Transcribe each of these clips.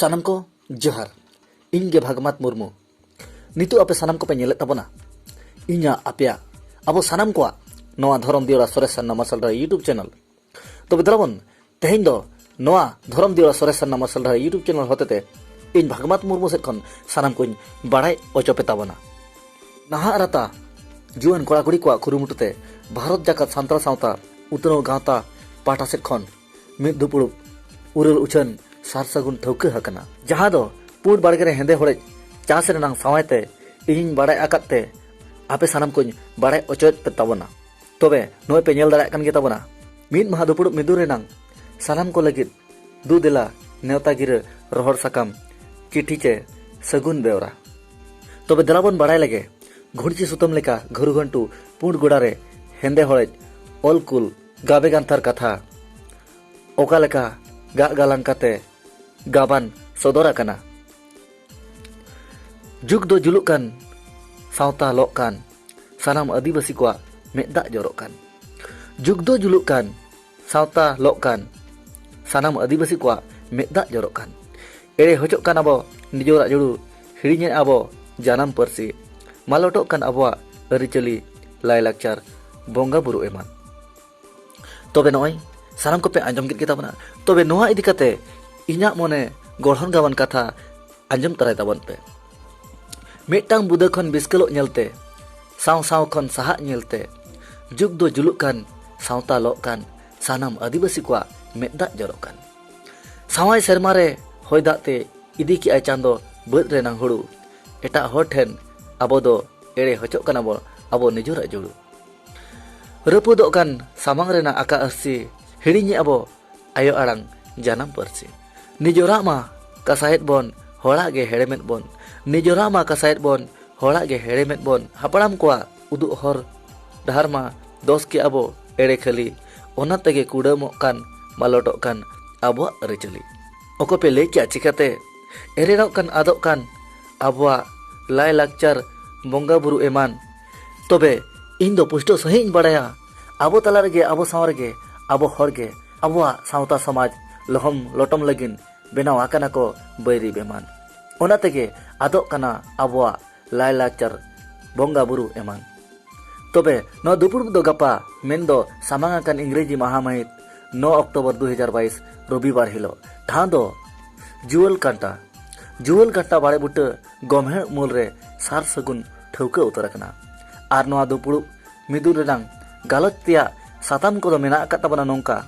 ᱥᱟᱱᱟᱢ ᱠᱚ ᱡᱚᱦᱟᱨ ᱤᱧ ᱜᱮ ᱵᱷᱟᱜᱽᱢᱟᱛ ᱢᱩᱨᱢᱩ ᱱᱤᱛᱚᱜ ᱟᱯᱮ ᱥᱟᱱᱟᱢ ᱠᱚᱯᱮ ᱧᱮᱞᱮᱫ ᱛᱟᱵᱚᱱᱟ ᱤᱧᱟᱹᱜ ᱟᱯᱮᱭᱟᱜ ᱟᱵᱚ ᱥᱟᱱᱟᱢ ᱠᱚᱣᱟᱜ ᱱᱚᱣᱟ ᱫᱷᱚᱨᱚᱢ ᱫᱤᱭᱚᱲᱟ ᱥᱚᱨᱮᱥ ᱥᱟᱨᱱᱟ ᱢᱟᱨᱥᱟᱞ ᱨᱮ ᱤᱭᱩᱴᱩᱵᱽ ᱪᱮᱱᱮᱞ ᱛᱚᱵᱮ ᱫᱟᱞᱟᱵᱚᱱ ᱛᱮᱦᱮᱧ ᱫᱚ ᱱᱚᱣᱟ ᱫᱷᱚᱨᱚᱢ ᱫᱤᱣᱟ ᱥᱚᱨᱮᱥ ᱥᱟᱨᱱᱟ ᱢᱟᱨᱥᱟᱞ ᱰᱟᱦᱟᱨ ᱤᱭᱩᱴᱩᱵᱽ ᱪᱮᱱᱮᱞ ᱦᱚᱛᱮᱛᱮ ᱤᱧ ᱵᱷᱟᱜᱽᱢᱟᱛ ᱢᱩᱨᱢᱩ ᱥᱮᱫ ᱠᱷᱚᱱ ᱥᱟᱱᱟᱢ ᱠᱚᱧ ᱵᱟᱲᱟᱭ ᱚᱪᱚ ᱯᱮ ᱛᱟᱵᱚᱱᱟ ᱱᱟᱦᱟᱜ ᱨᱟᱛᱟ ᱡᱩᱣᱟᱹᱱ ᱠᱚᱲᱟ ᱠᱩᱲᱤ ᱠᱚᱣᱟᱜ ᱠᱩᱨᱩᱢᱩᱴᱩ ᱛᱮ ᱵᱷᱟᱨᱚᱛ ᱡᱟᱠᱟᱛ ᱥᱟᱱᱛᱟᱲ ᱥᱟᱶᱛᱟ ᱩᱛᱱᱟᱹᱣ ᱜᱟᱶᱛᱟ ᱯᱟᱦᱴᱟ ᱥᱮᱫ ᱠᱷᱚᱱ ᱢᱤᱫ ᱫᱩᱯᱲᱩᱵ ᱩᱨᱟᱹᱞ ᱩᱪᱷᱟᱹᱱ ᱥᱟᱨ ᱥᱟᱹᱜᱩᱱ ᱴᱷᱟᱹᱣᱠᱟᱹ ᱟᱠᱟᱱᱟ ᱡᱟᱦᱟᱸ ᱫᱚ ᱯᱩᱸᱰ ᱵᱟᱲᱜᱮ ᱨᱮ ᱦᱮᱸᱫᱮ ᱦᱚᱲᱮᱡ ᱪᱟᱥ ᱨᱮᱱᱟᱜ ᱥᱟᱶᱟᱭ ᱛᱮ ᱤᱧᱤᱧ ᱵᱟᱲᱟᱭ ᱟᱠᱟᱫ ᱛᱮ ᱟᱯᱮ ᱥᱟᱱᱟᱢ ᱠᱚᱧ ᱵᱟᱲᱟᱭ ᱚᱪᱚᱭᱮᱫ ᱯᱮ ᱛᱟᱵᱚᱱᱟ ᱛᱚᱵᱮ ᱱᱚᱜᱼᱚᱭ ᱯᱮ ᱧᱮᱞ ᱫᱟᱲᱮᱭᱟᱜ ᱠᱟᱱ ᱜᱮ ᱛᱟᱵᱚᱱᱟ ᱢᱤᱫ ᱢᱟᱦᱟ ᱫᱩᱯᱲᱩᱵ ᱢᱤᱫᱩ ᱨᱮᱱᱟᱝ ᱥᱟᱱᱟᱢ ᱠᱚ ᱞᱟᱹᱜᱤᱫ ᱫᱩ ᱫᱮᱞᱟ ᱱᱮᱣᱛᱟ ᱜᱤᱨᱟᱹ ᱨᱚᱦᱚᱲ ᱥᱟᱠᱟᱢ ᱪᱤᱴᱷᱤ ᱪᱮ ᱥᱟᱹᱜᱩᱱ ᱵᱮᱣᱨᱟ ᱛᱚᱵᱮ ᱫᱮᱞᱟ ᱵᱚᱱ ᱵᱟᱲᱟᱭ ᱞᱮᱜᱮ ᱜᱷᱩᱲᱪᱤ ᱥᱩᱛᱟᱹᱢ ᱞᱮᱠᱟ ᱜᱷᱟᱹᱨᱩ ᱜᱷᱟᱹᱱᱴᱩ ᱯᱩᱸᱰ ᱜᱚᱰᱟ ᱨᱮ ᱦᱮᱸᱫᱮ ᱦᱚᱲᱮᱡ ᱚᱞ ᱠᱩᱞ ᱜᱟᱵᱮ ᱜᱟᱱᱛᱷᱟᱨ ᱠᱟᱛᱷᱟ ᱚᱠᱟ ᱞᱮᱠᱟ ᱜᱟᱜ ᱜᱟᱞᱟᱝ ᱠᱟᱛᱮ ᱜᱟᱵᱟᱱ ᱥᱚᱫᱚᱨ ᱟᱠᱟᱱᱟ ᱡᱩᱜᱽ ᱫᱚ ᱡᱩᱞᱩᱜ ᱠᱟᱱ ᱥᱟᱶᱛᱟ ᱞᱚᱜ ᱠᱟᱱ ᱥᱟᱱᱟᱢ ᱟᱹᱫᱤᱵᱟᱹᱥᱤ ᱠᱚᱣᱟᱜ ᱢᱮᱫ ᱫᱟᱜ ᱡᱚᱨᱚᱜ ᱠᱟᱱ ᱡᱩᱜᱽ ᱫᱚ ᱡᱩᱞᱩᱜ ᱠᱟᱱ ᱥᱟᱶᱛᱟ ᱞᱚᱜ ᱠᱟᱱ ᱥᱟᱱᱟᱢ ᱟᱹᱫᱤᱵᱟᱹᱥᱤ ᱠᱚᱣᱟᱜ ᱢᱮᱫ ᱫᱟᱜ ᱡᱚᱨᱚᱜ ᱠᱟᱱ ᱮᱲᱮ ᱦᱚᱪᱚᱜ ᱠᱟᱱ ᱟᱵᱚ ᱱᱤᱡᱚᱨᱟᱜ ᱡᱩᱲᱩ ᱦᱤᱲᱤᱧᱮᱫ ᱟᱵᱚ ᱡᱟᱱᱟᱢ ᱯᱟᱹᱨᱥᱤ ᱢᱟᱞᱚᱴᱚᱜ ᱠᱟᱱ ᱟᱵᱚᱣᱟᱜ ᱟᱹᱨᱤᱪᱟᱹᱞᱤ ᱞᱟᱭᱞᱟᱠᱪᱟᱨ ᱵᱚᱸᱜᱟ ᱵᱩᱨᱩ ᱮᱢᱟᱱ ᱛᱚᱵᱮ ᱱᱚᱜᱼᱚᱭ ᱥᱟᱱᱟᱢ ᱠᱚᱯᱮ ᱟᱸᱡᱚᱢ ᱠᱮᱫ ᱜᱮᱛᱟᱵᱚᱱᱟ ᱛᱚᱵᱮ ᱱᱚᱣᱟ ᱤᱫᱤ ᱠᱟᱛᱮ ᱤᱧᱟᱹᱜ ᱢᱚᱱᱮ ᱜᱚᱲᱦᱚᱱ ᱜᱟᱵᱟᱱ ᱠᱟᱛᱷᱟ ᱟᱸᱡᱚᱢ ᱛᱟᱨᱟᱭ ᱛᱟᱵᱚᱱ ᱯᱮ ᱢᱤᱫᱴᱟᱝ ᱵᱩᱫᱟᱹ ᱠᱷᱚᱱ ᱵᱤᱥᱠᱮᱞᱚᱜ ᱧᱮᱞᱛᱮ ᱥᱟᱶ ᱥᱟᱶ ᱠᱷᱚᱱ ᱥᱟᱦᱟᱜ ᱧᱮᱞᱛᱮ ᱡᱩᱜᱽ ᱫᱚ ᱡᱩᱞᱩᱜ ᱠᱟᱱ ᱥᱟᱶᱛᱟ ᱞᱚᱜ ᱠᱟᱱ ᱥᱟᱱᱟᱢ ᱟᱹᱫᱤᱵᱟᱹᱥᱤ ᱠᱚᱣᱟᱜ ᱢᱮᱫ ᱫᱟᱜ ᱡᱚᱨᱚᱜ ᱠᱟᱱ ᱥᱟᱶᱟᱭ ᱥᱮᱨᱢᱟ ᱨᱮ ᱦᱚᱭ ᱫᱟᱜ ᱛᱮ ᱤᱫᱤ ᱠᱮᱜᱼᱟᱭ ᱪᱟᱸᱫᱚ ᱵᱟᱹᱫᱽ ᱨᱮᱱᱟᱝ ᱦᱩᱲᱩ ᱮᱴᱟᱜ ᱦᱚᱲ ᱴᱷᱮᱱ ᱟᱵᱚ ᱫᱚ ᱮᱲᱮ ᱦᱚᱪᱚᱜ ᱠᱟᱱᱟ ᱵᱚᱱ ᱟᱵᱚ ᱱᱤᱡᱚᱨᱟᱜ ᱡᱩᱲᱩ ᱨᱟᱹᱯᱩᱫᱚᱜ ᱠᱟᱱ ᱥᱟᱢᱟᱝ ᱨᱮᱱᱟᱜ ᱟᱠᱟ ᱟᱹᱨᱥᱤ ᱦᱤᱲᱤᱧᱮ ᱟᱵᱚ ᱟᱭᱳ ᱟᱲᱟᱝ ᱡᱟᱱᱟᱢ ᱯᱟᱹᱨᱥᱤ ᱱᱤᱡᱚᱨᱟᱜ ᱢᱟ ᱠᱟᱥᱟᱭᱮᱫ ᱵᱚᱱ ᱦᱚᱲᱟᱜ ᱜᱮ ᱦᱮᱲᱮᱢᱮᱫ ᱵᱚᱱ ᱱᱤᱡᱚᱨᱟᱜ ᱢᱟ ᱠᱟᱥᱟᱭᱮᱫ ᱵᱚᱱ ᱦᱚᱲᱟᱜ ᱜᱮ ᱦᱮᱲᱮᱢᱮᱫ ᱵᱚᱱ ᱦᱟᱯᱲᱟᱢ ᱠᱚᱣᱟᱜ ᱩᱫᱩᱜ ᱦᱚᱨ ᱰᱟᱦᱟᱨ ᱢᱟ ᱫᱚᱥ ᱠᱮ ᱟᱵᱚ ᱮᱲᱮ ᱠᱷᱟᱹᱞᱤ ᱚᱱᱟ ᱛᱮᱜᱮ ᱠᱩᱰᱟᱹᱢᱚᱜ ᱠᱟᱱ ᱢᱟᱞᱚᱴᱚᱜ ᱠᱟᱱ ᱟᱵᱚᱣᱟᱜ ᱟᱹᱨᱤᱪᱟᱹᱞᱤ ᱚᱠᱚᱭ ᱯᱮ ᱞᱟᱹᱭ ᱠᱮᱜᱼᱟ ᱪᱤᱠᱟᱹᱛᱮ ᱮᱨᱮᱲᱚᱜ ᱠᱟᱱ ᱟᱫᱚᱜ ᱠᱟᱱ ᱟᱵᱚᱣᱟᱜ ᱞᱟᱭᱼᱞᱟᱠᱪᱟᱨ ᱵᱚᱸᱜᱟ ᱵᱩᱨᱩ ᱮᱢᱟᱱ ᱛᱚᱵᱮ ᱤᱧ ᱫᱚ ᱯᱩᱥᱴᱟᱹᱣ ᱥᱟᱺᱦᱤᱡ ᱤᱧ ᱵᱟᱲᱟᱭᱟ ᱟᱵᱚ ᱛᱟᱞᱟ ᱨᱮᱜᱮ ᱟᱵᱚ ᱥᱟᱶ ᱨᱮᱜᱮ ᱟᱵᱚ ᱦᱚᱲ ᱜᱮ ᱟᱵᱚᱣᱟᱜ ᱥᱟᱶᱛᱟ ᱥᱚᱢᱟᱡᱽ ᱞᱚᱦᱚᱢ ᱞᱚᱴᱚᱢ ᱞᱟᱹᱜᱤᱫ ᱵᱮᱱᱟᱣ ᱟᱠᱟᱱᱟ ᱠᱚ ᱵᱟᱹᱭᱨᱤ ᱵᱮᱢᱟᱱ ᱚᱱᱟ ᱛᱮᱜᱮ ᱟᱫᱚᱜ ᱠᱟᱱᱟ ᱟᱵᱚᱣᱟᱜ ᱞᱟᱭᱞᱟᱠᱪᱟᱨ ᱵᱚᱸᱜᱟ ᱵᱩᱨᱩ ᱮᱢᱟᱱ ᱛᱚᱵᱮ ᱱᱚᱣᱟ ᱫᱩᱯᱲᱩᱵ ᱫᱚ ᱜᱟᱯᱟ ᱢᱮᱱ ᱫᱚ ᱥᱟᱢᱟᱝ ᱟᱠᱟᱱ ᱤᱝᱨᱮᱡᱤ ᱢᱟᱦᱟ ᱢᱟᱹᱦᱤᱛ ᱱᱚ ᱚᱠᱴᱳᱵᱚᱨ ᱫᱩ ᱦᱟᱡᱟᱨ ᱵᱟᱭᱤᱥ ᱨᱚᱵᱤᱵᱟᱨ ᱦᱤᱞᱳᱜ ᱴᱷᱟᱶ ᱫᱚ ᱡᱩᱣᱟᱹᱞ ᱠᱟᱱᱴᱟ ᱡᱩᱣᱟᱹᱞ ᱠᱟᱱᱴᱟ ᱵᱟᱲᱮ ᱵᱩᱴᱟᱹ ᱜᱚᱢᱦᱮ ᱩᱢᱩᱞ ᱨᱮ ᱥᱟᱨ ᱥᱟᱹᱜᱩᱱ ᱴᱷᱟᱹᱣᱠᱟᱹ ᱩᱛᱟᱹᱨ ᱟᱠᱟᱱᱟ ᱟᱨ ᱱᱚᱣᱟ ᱫᱩᱯᱲᱩᱵ ᱢᱤᱫᱩᱱ ᱨᱮᱱᱟᱝ ᱜᱟᱞᱚᱪ ᱛᱮᱭᱟᱜ ᱥᱟᱛᱟᱢ ᱠᱚᱫᱚ ᱢᱮᱱᱟᱜ ᱟᱠᱟᱫ ᱛᱟᱵᱚᱱᱟ ᱱᱚᱝᱠᱟ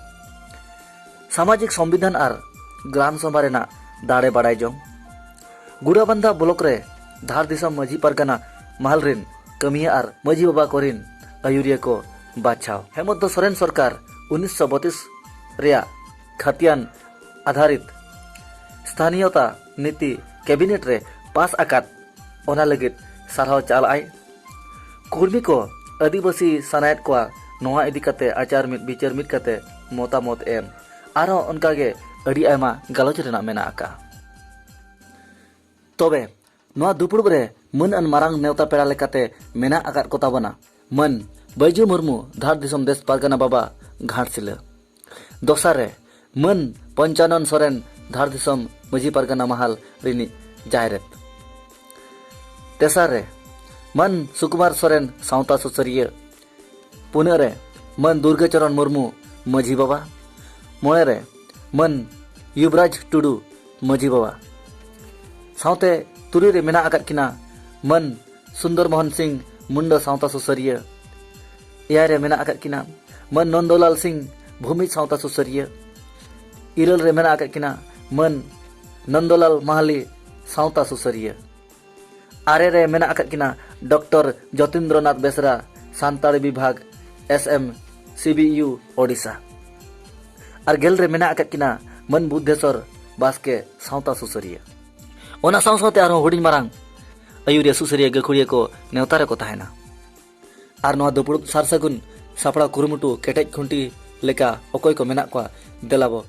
ᱥᱟᱢᱟᱡᱤᱠ ᱥᱚᱝᱵᱤᱫᱷᱟᱱ ᱟᱨ ᱜᱨᱟᱢ ᱥᱚᱵᱷᱟ ᱨᱮᱱᱟᱜ ᱫᱟᱲᱮ ᱵᱟᱲᱟᱭ ᱡᱚᱝ ᱜᱩᱲᱟᱵᱟᱱᱫᱟ ᱵᱞᱚᱠ ᱨᱮ ᱫᱷᱟᱨ ᱫᱤᱥᱚᱢ ᱢᱟᱹᱡᱷᱤ ᱯᱟᱨᱜᱟᱱᱟ ᱢᱟᱦᱟᱞ ᱨᱤᱱ ᱠᱟᱹᱢᱤᱭᱟᱹ ᱟᱨ ᱢᱟᱹᱡᱷᱤ ᱵᱟᱵᱟ ᱠᱚᱨᱤᱱ ᱟᱹᱭᱩᱨᱤᱭᱟᱹ ᱠᱚ ᱵᱟᱪᱷᱟᱣ ᱦᱮᱢᱚᱱᱛ ᱥᱚᱨᱮᱱ ᱥᱚᱨᱠᱟᱨ ᱩᱱᱤᱥᱥᱚ ᱵᱚᱛᱤᱥ ᱨᱮᱭᱟᱜ ᱠᱷᱟᱛᱤᱭᱟᱱ ᱟᱫᱷᱟᱨᱤᱛ ᱥᱛᱷᱟᱱᱤᱭᱚᱛᱟ ᱱᱤᱛᱤ ᱠᱮᱵᱤᱱᱮᱴ ᱨᱮ ᱯᱟᱥ ᱟᱠᱟᱫ ᱚᱱᱟ ᱞᱟᱹᱜᱤᱫ ᱥᱟᱨᱦᱟᱣ ᱪᱟᱞ ᱟᱭ᱾ ᱠᱩᱨᱢᱤ ᱠᱚ ᱟᱹᱫᱤᱵᱟᱹᱥᱤ ᱥᱟᱱᱟᱭᱮᱫ ᱠᱚᱣᱟ ᱱᱚᱣᱟ ᱤᱫᱤ ᱠᱟᱛᱮ ᱟᱪᱟᱨ ᱢᱤᱫ ᱵᱤᱪᱟᱹᱨ ᱢᱤᱫ ᱠᱟᱛᱮ ᱢᱚᱛᱟᱢᱚᱛ ᱮᱢ ᱟᱨᱦᱚᱸ ᱚᱱᱠᱟ ᱜᱮ ᱟᱹᱰᱤ ᱟᱭᱢᱟ ᱜᱟᱞᱚᱪ ᱨᱮᱱᱟᱜ ᱢᱮᱱᱟᱜ ᱟᱠᱟᱜᱼᱟ᱾ ᱛᱚᱵᱮ ᱱᱚᱣᱟ ᱫᱩᱯᱩᱲᱩᱵ ᱨᱮ ᱢᱟᱹᱱ ᱟᱱ ᱢᱟᱨᱟᱝ ᱱᱮᱣᱛᱟ ᱯᱮᱲᱟ ᱞᱮᱠᱟᱛᱮ ᱢᱮᱱᱟᱜ ᱟᱠᱟᱫ ᱠᱚ ᱛᱟᱵᱚᱱᱟ ᱢᱟᱹᱱ ᱵᱟᱹᱭᱡᱩ ᱢᱩᱨᱢᱩ ᱫᱷᱟᱲ ᱫᱤᱥᱚᱢ ᱫᱮᱥ ᱯᱟᱨᱜᱟᱱᱟ ᱵᱟᱵᱟ ᱜᱷᱟᱴᱥᱤᱞᱟᱹ ᱫᱚᱥᱟᱨ ᱨᱮ ᱢᱟᱹᱱ ᱯᱚᱧᱪᱟᱱᱚᱱ ᱥᱚᱨᱮᱱ ᱫᱷᱟᱲ ᱫᱤᱥᱚᱢ ᱢᱟᱹᱡᱷᱤ ᱯᱟᱨᱜᱟᱱᱟ ᱢᱟᱦᱟᱞ ᱨᱤᱱᱤᱡ ᱡᱟᱭᱨᱮᱛ᱾ ᱛᱮᱥᱟᱨ ᱨᱮ ᱢᱟᱹᱱ ᱥᱩᱠᱩᱢᱟᱨ ᱥᱚᱨᱮᱱ ᱥᱟᱶᱛᱟ ᱥᱩᱥᱟᱹᱨᱤᱭᱟᱹ᱾ ᱯᱩᱱᱟᱹᱜ ᱨᱮ ᱢᱟᱹᱱ ᱫᱩᱨᱜᱟᱹ ᱪᱚᱨᱚᱱ ᱢᱩᱨᱢᱩ ᱢᱟᱹᱡᱷᱤ ᱵᱟᱵᱟ᱾ ᱢᱚᱬᱮ ᱨᱮ ᱢᱟᱹᱱ ᱭᱩᱵᱽᱨᱟᱡᱽ ᱴᱩᱰᱩ ᱢᱟᱹᱡᱷᱤ ᱵᱟᱵᱟ᱾ ᱥᱟᱶᱛᱮ ᱛᱩᱨᱩᱭ ᱨᱮ ᱢᱮᱱᱟᱜ ᱟᱠᱟᱫ ᱠᱤᱱᱟ ᱢᱟᱹᱱ ᱥᱩᱱᱫᱚᱨ ᱢᱚᱦᱚᱱ ᱥᱤᱝ ᱢᱩᱱᱰᱟᱹ ᱥᱟᱶᱛᱟ ᱥᱩᱥᱟᱹᱨᱤᱭᱟᱹ᱾ ᱮᱭᱟᱭ ᱨᱮ ᱢᱮᱱᱟᱜ ᱟᱠᱟᱫ ᱠᱤᱱᱟ ᱢᱟᱹᱱ ᱱᱚᱱᱫᱚᱞᱟᱞ ᱥᱤᱝ ᱵᱷᱩᱢᱤ ᱥᱟᱶᱛᱟ ᱥᱩᱥᱟᱹᱨᱤᱭᱟᱹ ᱤᱨᱟᱹᱞ ᱨᱮ ᱢᱮᱱᱟᱜ ᱟᱠᱟᱫ ᱠᱤᱱᱟ ᱢᱟᱹᱱ ᱱᱚᱱᱫᱚᱞᱟᱞ ᱢᱟᱦᱟᱞᱤ ᱥᱟᱶᱛᱟ ᱥᱩᱥᱟᱹᱨᱤᱭᱟᱹ ᱟᱨᱮ ᱨᱮ ᱢᱮᱱᱟᱜ ᱟᱠᱟᱫ ᱠᱤᱱᱟ ᱰᱚᱠᱴᱚᱨ ᱡᱚᱛᱤᱱᱫᱨᱚᱱᱟᱛᱷ ᱵᱮᱥᱨᱟ ᱥᱟᱱᱛᱟᱲᱤ ᱵᱤᱵᱷᱟᱜᱽ S M C B U Odisha ᱟᱨ ᱜᱮᱞ ᱨᱮ ᱢᱮᱱᱟᱜ ᱟᱠᱟᱫ ᱠᱤᱱᱟ ᱢᱟᱹᱱ ᱵᱩᱫᱽᱫᱷᱮᱥᱚᱨ ᱵᱟᱥᱠᱮ ᱥᱟᱶᱛᱟ ᱥᱩᱥᱟᱹᱨᱤᱭᱟᱹ ᱚᱱᱟ ᱥᱟᱶ ᱥᱟᱶᱛᱮ ᱟᱨᱦᱚᱸ ᱦᱩᱰᱤᱧ ᱢᱟᱨᱟᱝ ᱟᱹᱭᱩᱨᱤᱭᱟᱹ ᱥᱩᱥᱟᱹᱨᱤᱭᱟᱹ ᱜᱟᱹᱠᱷᱩᱲᱤᱭᱟᱹ ᱠᱚ ᱱᱮᱣᱛᱟ ᱨᱮᱠᱚ ᱛᱟᱦᱮᱱᱟ ᱟᱨ ᱱᱚᱣᱟ ᱫᱩᱯᱲᱩᱵ ᱥᱟᱨ ᱥᱟᱹᱜᱩᱱ ᱥᱟᱯᱲᱟᱣ ᱠᱩᱨᱩᱢᱩᱴᱩ ᱠᱮᱴᱮᱡ ᱠᱷᱩᱱᱴᱤ ᱞᱮᱠᱟ ᱚᱠᱚᱭ ᱠᱚ ᱢᱮᱱᱟᱜ ᱠᱚᱣᱟ ᱫᱮᱞᱟ ᱵᱚ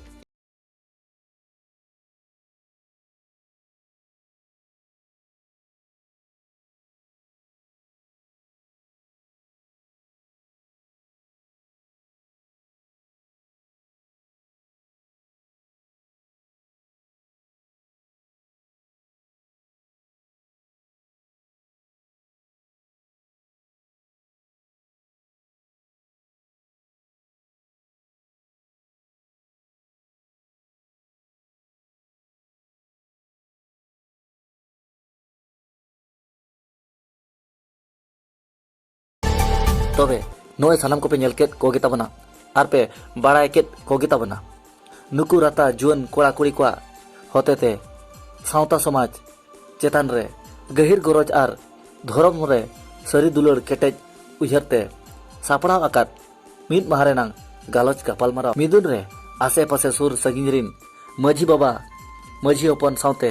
ᱛᱚᱵᱮ ᱱᱚᱜᱼᱚᱭ ᱥᱟᱱᱟᱢ ᱠᱚᱯᱮ ᱧᱮᱞ ᱠᱮᱫ ᱠᱚᱜᱮ ᱛᱟᱵᱚᱱᱟ ᱟᱨ ᱯᱮ ᱵᱟᱲᱟᱭ ᱠᱮᱫ ᱠᱚᱜᱮ ᱛᱟᱵᱚᱱᱟ ᱱᱩᱠᱩ ᱨᱟᱛᱟ ᱡᱩᱣᱟᱹᱱ ᱠᱚᱲᱟ ᱠᱩᱲᱤ ᱠᱚᱣᱟᱜ ᱦᱚᱛᱮᱛᱮ ᱥᱟᱶᱛᱟ ᱥᱚᱢᱟᱡᱽ ᱪᱮᱛᱟᱱ ᱨᱮ ᱜᱟᱹᱦᱤᱨ ᱜᱚᱨᱚᱡᱽ ᱟᱨ ᱫᱷᱚᱨᱚᱢ ᱨᱮ ᱥᱟᱹᱨᱤ ᱫᱩᱞᱟᱹᱲ ᱠᱮᱴᱮᱡ ᱩᱭᱦᱟᱹᱨ ᱛᱮ ᱥᱟᱯᱲᱟᱣ ᱟᱠᱟᱫ ᱢᱤᱫ ᱢᱟᱦᱟ ᱨᱮᱱᱟᱜ ᱜᱟᱞᱚᱪ ᱜᱟᱯᱟᱞᱢᱟᱨᱟᱣ ᱢᱤᱫᱩᱱ ᱨᱮ ᱟᱥᱮ ᱯᱟᱥᱮ ᱥᱩᱨ ᱥᱟᱺᱜᱤᱧ ᱨᱤᱱ ᱢᱟᱹᱡᱷᱤ ᱵᱟᱵᱟ ᱢᱟᱹᱡᱷᱤ ᱦᱚᱯᱚᱱ ᱥᱟᱶᱛᱮ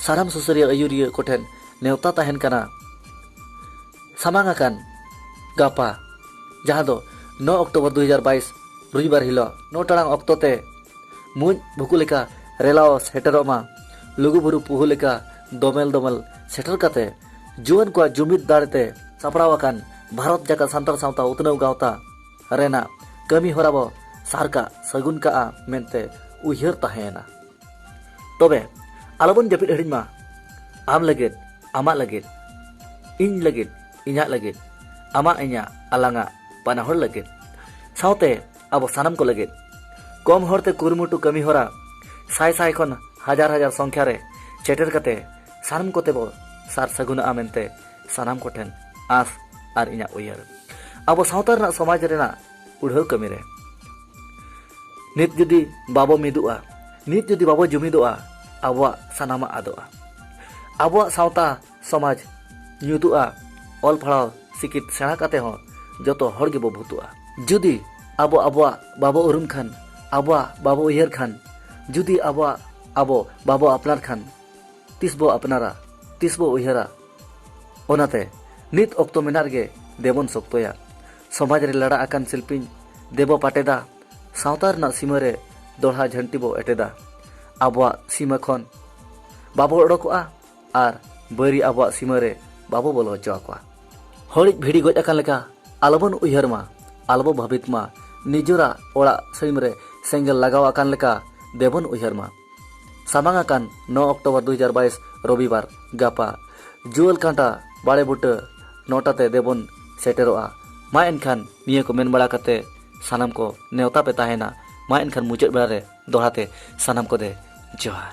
ᱥᱟᱨᱟᱢ ᱥᱩᱥᱟᱹᱨᱤᱭᱟᱹ ᱟᱹᱭᱩᱨᱤᱭᱟᱹ ᱠᱚᱴᱷᱮᱱ ᱱᱮᱣᱛᱟ ᱛᱟᱦᱮᱱ ᱠᱟᱱᱟ ᱥᱟᱢᱟᱝ ᱟᱠᱟᱱ ᱜᱟᱯᱟ ᱡᱟᱦᱟᱸ ᱫᱚ 9 ᱚᱠᱴᱳᱵᱚᱨ 2022 ᱨᱚᱵᱤᱵᱟᱨ ᱦᱤᱞᱳᱜ ᱱᱚ ᱴᱟᱲᱟᱝ ᱚᱠᱛᱚ ᱛᱮ ᱢᱩᱡ ᱵᱷᱩᱠᱩ ᱞᱮᱠᱟ ᱨᱮᱞᱟᱣ ᱥᱮᱴᱮᱨᱚᱜ ᱢᱟ ᱞᱩᱜᱩᱵᱩᱨᱩ ᱯᱩᱦᱩ ᱞᱮᱠᱟ ᱫᱚᱢᱮᱞ ᱫᱚᱢᱮᱞ ᱥᱮᱴᱮᱨ ᱠᱟᱛᱮ ᱡᱩᱣᱟᱹᱱ ᱠᱚᱣᱟᱜ ᱡᱩᱢᱤᱫ ᱫᱟᱲᱮ ᱛᱮ ᱥᱟᱯᱲᱟᱣ ᱟᱠᱟᱱ ᱵᱷᱟᱨᱚᱛ ᱡᱟᱠᱟᱛ ᱥᱟᱱᱛᱟᱲ ᱥᱟᱶᱛᱟ ᱩᱛᱱᱟᱹᱣ ᱜᱟᱶᱛᱟ ᱨᱮᱱᱟᱜ ᱠᱟᱹᱢᱤ ᱦᱚᱨᱟ ᱵᱚ ᱥᱟᱨ ᱠᱟᱜ ᱥᱟᱹᱜᱩᱱ ᱠᱟᱜᱼᱟ ᱢᱮᱱᱛᱮ ᱩᱭᱦᱟᱹᱨ ᱛᱟᱦᱮᱸᱭᱮᱱᱟ ᱛᱚᱵᱮ ᱟᱞᱚᱵᱚᱱ ᱡᱟᱹᱯᱤᱫ ᱦᱤᱲᱤᱧ ᱢᱟ ᱟᱢ ᱞᱟᱹᱜᱤᱫ ᱟᱢᱟᱜ ᱞᱟᱹᱜᱤᱫ ᱤᱧ ᱞᱟᱹᱜᱤᱫ ᱤᱧᱟᱹᱜ ᱞᱟᱹᱜᱤᱫ ᱟᱢᱟᱜ ᱤᱧᱟᱹᱜ ᱟᱞᱟᱝᱟᱜ ᱵᱟᱱᱟ ᱦᱚᱲ ᱞᱟᱹᱜᱤᱫ ᱥᱟᱶᱛᱮ ᱟᱵᱚ ᱥᱟᱱᱟᱢ ᱠᱚ ᱞᱟᱹᱜᱤᱫ ᱠᱚᱢ ᱦᱚᱲᱛᱮ ᱠᱩᱨᱩᱢᱩᱴᱩ ᱠᱟᱹᱢᱤ ᱦᱚᱨᱟ ᱥᱟᱭ ᱥᱟᱭ ᱠᱷᱚᱱ ᱦᱟᱡᱟᱨ ᱦᱟᱡᱟᱨ ᱥᱚᱝᱠᱷᱟ ᱨᱮ ᱥᱮᱴᱮᱨ ᱠᱟᱛᱮ ᱥᱟᱱᱟᱢ ᱠᱚᱛᱮ ᱵᱚ ᱥᱟᱨ ᱥᱟᱹᱜᱩᱱᱚᱜᱼᱟ ᱢᱮᱱᱛᱮ ᱥᱟᱱᱟᱢ ᱠᱚᱴᱷᱮᱱ ᱟᱸᱥ ᱟᱨ ᱤᱧᱟᱹᱜ ᱩᱭᱦᱟᱹᱨ ᱟᱵᱚ ᱥᱟᱶᱛᱟ ᱨᱮᱱᱟᱜ ᱥᱚᱢᱟᱡᱽ ᱨᱮᱱᱟᱜ ᱯᱩᱲᱦᱟᱹᱣ ᱠᱟᱹᱢᱤ ᱨᱮ ᱱᱤᱛ ᱡᱩᱫᱤ ᱵᱟᱵᱚ ᱢᱤᱫᱚᱜᱼᱟ ᱱᱤᱛ ᱡᱩᱫᱤ ᱵᱟᱵᱚ ᱡᱩᱢᱤᱫᱚᱜᱼᱟ ᱟᱵᱚᱣᱟᱜ ᱥᱟᱱᱟᱢᱟᱜ ᱟᱫᱚᱜᱼᱟ ᱟᱵᱚᱣᱟᱜ ᱥᱟᱶᱛᱟ ᱥᱚᱢᱟᱡᱽ ᱧᱩᱛᱩᱜᱼᱟ ᱚᱞ ᱯᱟᱲᱦᱟᱣ ᱥᱤᱠᱤᱛ ᱥᱮᱬᱟ ᱠᱟᱛᱮ ᱦᱚᱸ ᱡᱚᱛᱚ ᱦᱚᱲ ᱜᱮᱵᱚ ᱵᱷᱩᱛᱩᱜᱼᱟ ᱡᱩᱫᱤ ᱟᱵᱚ ᱟᱵᱚᱣᱟᱜ ᱵᱟᱵᱚ ᱩᱨᱩᱢ ᱠᱷᱟᱱ ᱟᱵᱚᱣᱟᱜ ᱵᱟᱵᱚ ᱩᱭᱦᱟᱹᱨ ᱠᱷᱟᱱ ᱡᱩᱫᱤ ᱟᱵᱚᱣᱟᱜ ᱟᱵᱚ ᱵᱟᱵᱚ ᱟᱯᱱᱟᱨ ᱠᱷᱟᱱ ᱛᱤᱥ ᱵᱚ ᱟᱯᱱᱟᱨᱟ ᱛᱤᱥ ᱵᱚ ᱩᱭᱦᱟᱹᱨᱟ ᱚᱱᱟᱛᱮ ᱱᱤᱛ ᱚᱠᱛᱚ ᱢᱮᱱᱟᱜ ᱨᱮᱜᱮ ᱫᱮᱵᱚᱱ ᱥᱚᱠᱛᱚᱭᱟ ᱥᱚᱢᱟᱡᱽ ᱨᱮ ᱞᱟᱲᱟ ᱟᱠᱟᱱ ᱥᱤᱞᱯᱤᱧ ᱫᱮᱵᱚ ᱯᱟᱴᱮᱫᱟ ᱥᱟᱶᱛᱟ ᱨᱮᱱᱟᱜ ᱥᱤᱢᱟᱹ ᱨᱮ ᱫᱚᱲᱦᱟ ᱡᱷᱟᱹᱱᱴᱤ ᱵᱚ ᱮᱴᱮᱫᱟ ᱟᱵᱚᱣᱟᱜ ᱥᱤᱢᱟᱹ ᱠᱷᱚᱱ ᱵᱟᱵᱚ ᱚᱰᱚᱠᱚᱜᱼᱟ ᱟᱨ ᱵᱟᱹᱨᱤ ᱟᱵᱚᱣᱟᱜ ᱥᱤᱢᱟᱹ ᱨᱮ ᱵᱟᱵᱚ ᱵᱚᱞᱚ ᱦᱚᱪᱚ ᱟᱠᱚᱣᱟ ᱦᱚᱲᱤᱡ ᱵᱷᱤᱲᱤ ᱜᱚᱡ ᱟᱠᱟᱱ ᱞᱮᱠᱟ ᱟᱞᱚᱵᱚᱱ ᱩᱭᱦᱟᱹᱨ ᱢᱟ ᱟᱞᱚᱵᱚ ᱵᱷᱟᱹᱵᱤᱛ ᱢᱟ ᱱᱤᱡᱚᱨᱟᱜ ᱚᱲᱟᱜ ᱥᱟᱹᱭᱢ ᱨᱮ ᱥᱮᱸᱜᱮᱞ ᱞᱟᱜᱟᱣ ᱟᱠᱟᱱ ᱞᱮᱠᱟ ᱫᱮᱵᱚᱱ ᱩᱭᱦᱟᱹᱨ ᱢᱟ ᱥᱟᱢᱟᱝ ᱟᱠᱟᱱ ᱱᱚ ᱚᱠᱴᱳᱵᱚᱨ ᱫᱩ ᱦᱟᱡᱟᱨ ᱵᱟᱭᱤᱥ ᱨᱚᱵᱤᱵᱟᱨ ᱜᱟᱯᱟ ᱡᱩᱣᱟᱹᱞ ᱠᱟᱸᱴᱟ ᱵᱟᱲᱮ ᱵᱩᱴᱟᱹ ᱱᱚᱴᱟ ᱛᱮ ᱫᱮᱵᱚᱱ ᱥᱮᱴᱮᱨᱚᱜᱼᱟ ᱢᱟ ᱮᱱᱠᱷᱟᱱ ᱱᱤᱭᱟᱹ ᱠᱚ ᱢᱮᱱ ᱵᱟᱲᱟ ᱠᱟᱛᱮ ᱥᱟᱱᱟᱢ ᱠᱚ ᱱᱮᱣᱛᱟ ᱯᱮ ᱛᱟᱦᱮᱱᱟ ᱢᱟ ᱮᱱᱠᱷᱟᱱ ᱢᱩᱪᱟᱹᱫ ᱵᱮᱲᱟ ᱨᱮ ᱫᱚᱦᱲᱟ ᱛᱮ ᱥᱟᱱᱟᱢ ᱠᱚ ᱫᱮ ᱡᱚᱦᱟᱨ